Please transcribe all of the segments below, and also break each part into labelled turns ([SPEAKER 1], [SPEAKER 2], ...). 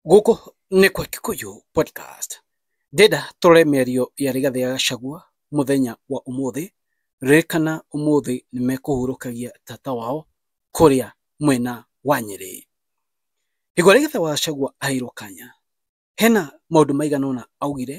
[SPEAKER 1] Gũkũ nĩ kwa Kikuyu Podcast. Ndĩrenda tũrore mĩario ya Rigathĩ ya Gachagua mũthenya wa ũmũthĩ. Ririkana ũmũthĩ nĩ mekũhurũkagia tata wao kũrĩa mwena wa Nyĩrĩ. Hĩndĩ ĩrĩa Rigathĩ wa Gachagua aheirwo kanya, hena maũndũ maigana ũna augire,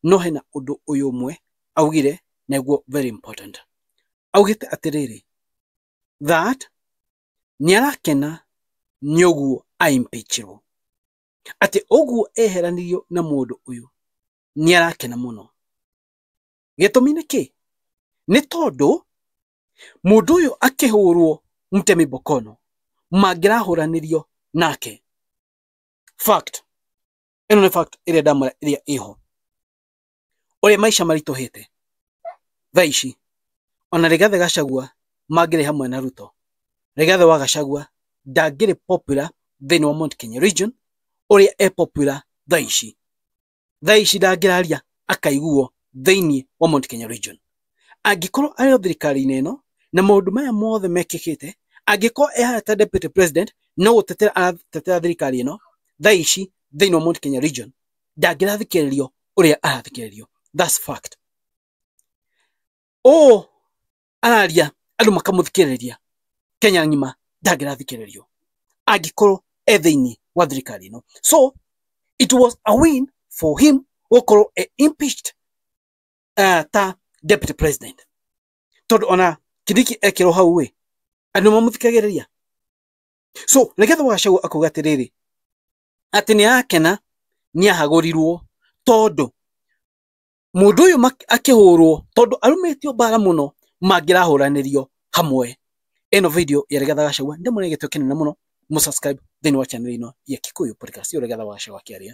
[SPEAKER 1] no hena ũndũ ũyũ ũmwe augire nĩguo very important. Augĩte atĩrĩrĩ, that nĩarakena nĩ ũguo aimpĩchirwo, atĩ ũguo eheranirio na mũndũ ũyũ, nĩarakena mũno. Gĩtũmi nĩ kĩ? Nĩ tondũ mũndũ ũyũ akĩhũrwo mtemi bokono mangĩrahũranĩrio nake. Fact. Ĩno nĩ fact ĩrĩa ndamwĩra ĩrĩa ĩho. ũrĩa maica maritũhĩte thaa ici ona Rigathi Gachagua mangĩrĩ hamwe na Ruto Rigathi wa Gachagua ndangĩrĩ popular thĩinĩ wa Mount Kenya region ũrĩa e popular thaa ici thaa ici ndangĩraria akaiguo thĩinĩ wa Mount Kenya region angĩkorwo arĩ o thirikari-inĩ ĩno na maũndũ maya mothe mekĩkĩte angĩkorwo ehana ta deputy president no gũtetera aratetera thirikari ĩno thaa ici thĩinĩ wa Mount Kenya region ndangĩrathikĩrĩrio ũrĩa arathikĩrĩrio that's fact ũũ araria andũ makamũthikĩrĩria kenya ng'ima ndangĩrathikĩrĩrio angĩkorwo e thĩinĩ wa thirikari ĩno so it was a win for him gũkorwo e impeached uh, ta deputy president tondũ ona kindiki ekĩrwo hau ĩ andũ mamũthikagĩrĩria so nĩgetha wagacagua akauga atĩrĩrĩ atĩ nĩ arakena nĩ ahagũrirwo tondũ mũndũ ũyũ akĩhũrwo tondũ arumĩtio mbara mũno mangĩrahũranĩrio hamwe. Ĩno video ya Rigathĩ wa Gachagua nĩ ndĩmũre gĩtĩo kĩnene mũno mũ subscribe thĩinĩ wa channel ĩno ya Kikuyu Podcast ya Rigathĩ wa Gachagua akĩaria.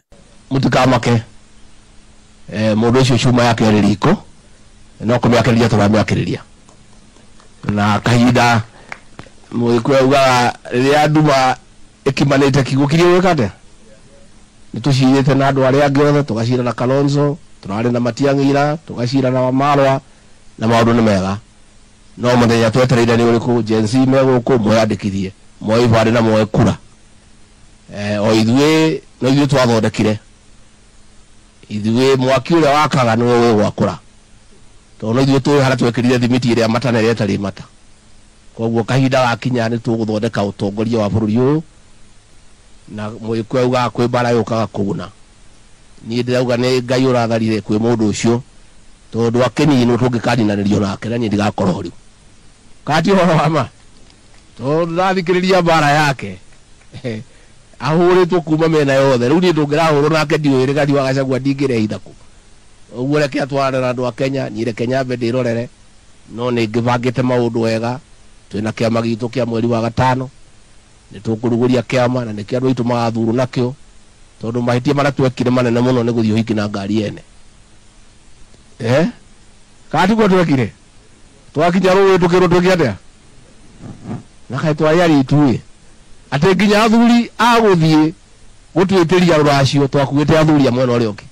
[SPEAKER 1] Mũtikamake
[SPEAKER 2] mũndũ ũcio cuma yake ĩrĩ riko no kũmĩakĩrĩria tũramĩakĩrĩria na kahinda mũgĩkũyũ augaga rĩrĩa nduma Ĩkimanĩte kiugo kĩrĩa ũgwĩka atĩa? Nĩtũcirĩte na andũ arĩa angĩ othe, tũgacira na Kalonzo, tũrarĩ na Matiang'i ira, tũgacira na Wamalwa, na maũndũ nĩ mega. No mũthenya twetereire nĩ ũrĩkũ? Gen Z me gũkũ, mwĩyandĩkithie, mwoe ibandĩ na mwoe kura. O ithuĩ, no ithuĩ twathondekire. Ithuĩ, mwaki ũrĩa wakaga nĩwe ũgĩgwakũra. Tondũ no ithuĩ tũĩ harĩa twekĩrire thimiti ĩrĩa mata na ĩrĩa ĩtarĩ mata. Kwoguo kahinda gakinya nĩ tũgũthondeka ũtongoria wa bũrũri ũyũ na Mũgĩkũyũ augaga kwĩ mbara yũkaga kũguna. Niĩ ndĩrauga nĩ Ngai ũratharire kwĩ mũndũ ũcio tondũ akĩninwo tũngĩkaninanĩrio nake na niĩ ndigakorwo ho rĩu. Kana ti ũhoro wa ma? Tondũ ndĩrathikĩrĩria mbara yake ahũrĩtwo kuma mĩena yothe. Rĩu niĩ tũngĩrahũrwo nake ndiũĩ Rigathi wa Gachagua ndingĩrehitha kũ? Ũguo reke atwarane na andũ a Kenya, niĩ reke nyambe ndĩrorere No nĩ ngĩbangĩte maũndũ wega. Twĩ na kĩama gitũ kĩa mweri wa gatano. Nĩ tũkũrugũria kĩama na nĩkĩo andũ aitũ magathurwo nakĩo tondũ mahĩtia marĩa twekire manene mũno nĩ gũthiĩ ũhiki na ngari yene. Eeh? Kana tiguo twekire? Twakinya rũĩ tũkĩrwo twĩke atĩa? Na kaĩ twarĩ aritũ-ĩ! Atĩ nginya athuri a gũthiĩ gũtwĩtĩria rũracio twakuĩte athuri a mwena ũrĩa ũngĩ.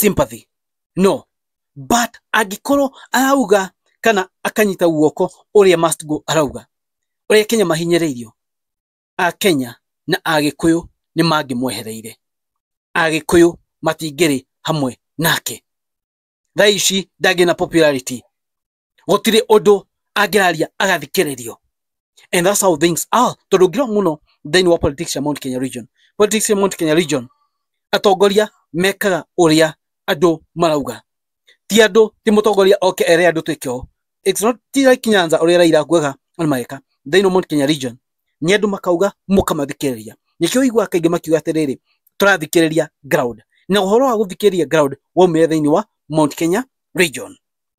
[SPEAKER 2] sympathy no but angĩkorwo arauga kana akanyita guoko ũrĩa must go arauga ũrĩa kenya mahinyĩrĩirio a kenya na agĩkũyũ nĩ mangĩmwehereire agĩkũyũ matingĩrĩ hamwe nake thaa ici ndangĩ na popularity gũtirĩ ũndũ angĩraria agathikĩrĩrio and that's how things are tondũ ngirwo mũno thĩinĩ wa politics ya Mount Kenya region politics ya Mount Kenya region atongoria mekaga ũrĩa andũ marauga ti andũ ti mũtongoria oke ere andũ twĩke ũũ it's not ti like Nyanza ũrĩa Raila kuaga na mageka thĩinĩ wa Mount Kenya region nĩ andũ makauga mũkamathikĩrĩria nĩkĩo igua kaingĩ makiuga atĩrĩrĩ tũrathikĩrĩria ground na ũhoro wa gũthikĩrĩria ground waumire thĩinĩ wa Mount Kenya region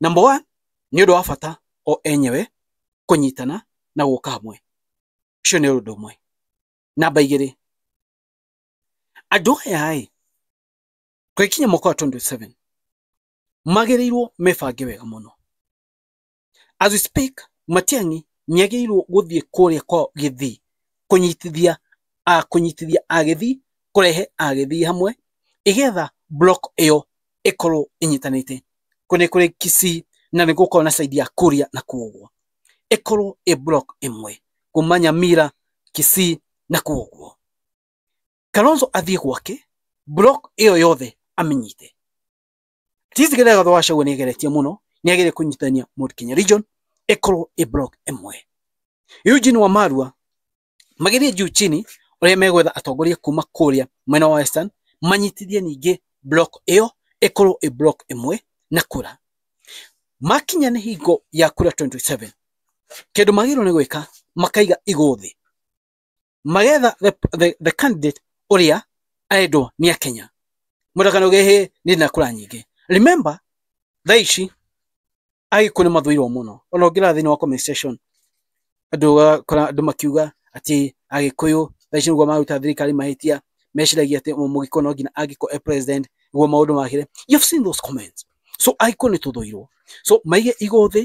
[SPEAKER 1] Number one, nĩ ũndũ wa bata o enyewe kũnyitana na gũka hamwe. Ũcio nĩ ũndũ ũmwe. Namba igĩrĩ, andũ aya ĩ, tũgĩkinya mwaka wa 27 magĩrĩirwo mebange wega mũno. As we speak, Matiang'i nĩ agĩrĩirwo gũthiĩ kũrĩa kwa Gĩthii kũnyitithia kũnyitithia Agĩthii, kũrehe Agĩthii hamwe, ĩgetha block ĩyo ĩkorwo ĩnyitanĩte kũrĩ kũrĩ Kisii na nĩ gũkorwo na side ya Kuria na kuoguo ĩkorwo ĩ block ĩmwe kuma Nyamira, Kisii na kuoguo Kalonzo athiĩ gwake block ĩyo yothe amĩnyite. Sisi Githaga thutha wa Gachagua nĩageretie mũno nĩagĩrĩire kũnyitithania Mount Kenya region ĩkorwo ĩ block ĩmwe. Eugene Wamalwa magĩthiĩ juu chini ũrĩa megwetha atongoria kuma kũrĩa mwena wa western manyitithie ningĩ block ĩyo ĩkorwo ĩ block ĩmwe na kura makinya nĩ hingo ya kura 27 kĩndũ magĩrĩirwo nĩ gwĩka makaiga igũ thĩ magetha the, the, the candidate ũrĩa arendwo nĩ akenya mũtakanogehe nĩ na kura nyingĩ remember thaa ici agĩkũyũ nĩ mathũirwo mũno ona ũngĩrora thĩinĩ wa comment section andũ ũgakora andũ makiuga atĩ agĩkũyũ thaa ici nĩguo maruta thirikari mahĩtia meciragia atĩ mũgĩkũyũ no nginya angĩkorwo e president nĩguo maũndũ magĩre you have seen those comments so agĩkũyũ nĩ tũthũirwo so maige igũ thĩ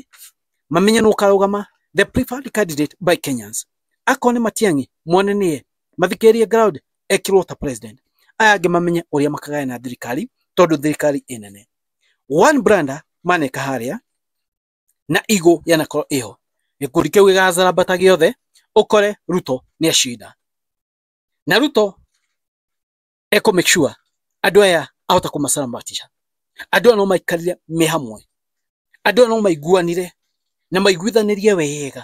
[SPEAKER 1] mamenye nũ ũkarũgama the preferred candidate by Kenyans akorwo nĩ Matiang'i mone nĩye mathikĩrĩrie ground ekirwo ta president aya angĩ mamenye ũrĩa makagayana thirikari tondũ thirikari ĩ nene one brander maneka harĩa na igũ yanakorwo ĩho gĩkundi kĩu gĩgacarambata gĩothe ũkore ruto nĩ acinda na ruto ekũ make sure andũ aya ahota kũmacarambatisha andũ aya no maikarire me hamwe andũ aya no maiguanire na maiguithanĩrie wega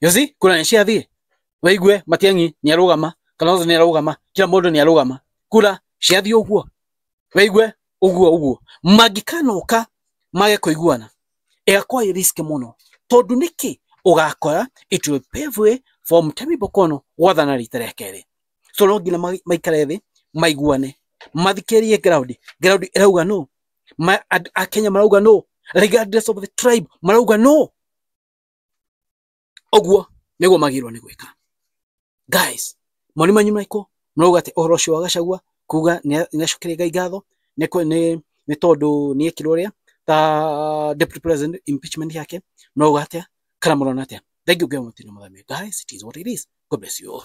[SPEAKER 1] you see kura nĩciathiĩ waigue matiang'i nĩarũgama kalonzo nĩarũgama kila mũndũ nĩarũgama kura ciathiĩ ũguo waigue ũguo ũguo mangĩkanoka mage kũiguana ĩgakorwo ĩ risk mũno tondũ nĩkĩ ũgakora it will pave way for Mutemi Bokono gwathana rita rĩa kerĩ so no nginya ma- maikare thĩ maiguane mathikĩrĩrie ground ground ĩrauga no Ma- and- akenya marauga no regardless of the tribe marauga no Oguo niguo magirwo ni gwika. Guys, moni manyu maiko murauga ati uhoro ucio wa Gachagua kuga ni acokeria Ngai ngatho ni ni ni tondu ni ekirwo ria ta deputy president impeachment yake murauga atia kana murona atia. Thengiu Ngai wa matu ni muthamie. Guys, it is what it is. God bless you all.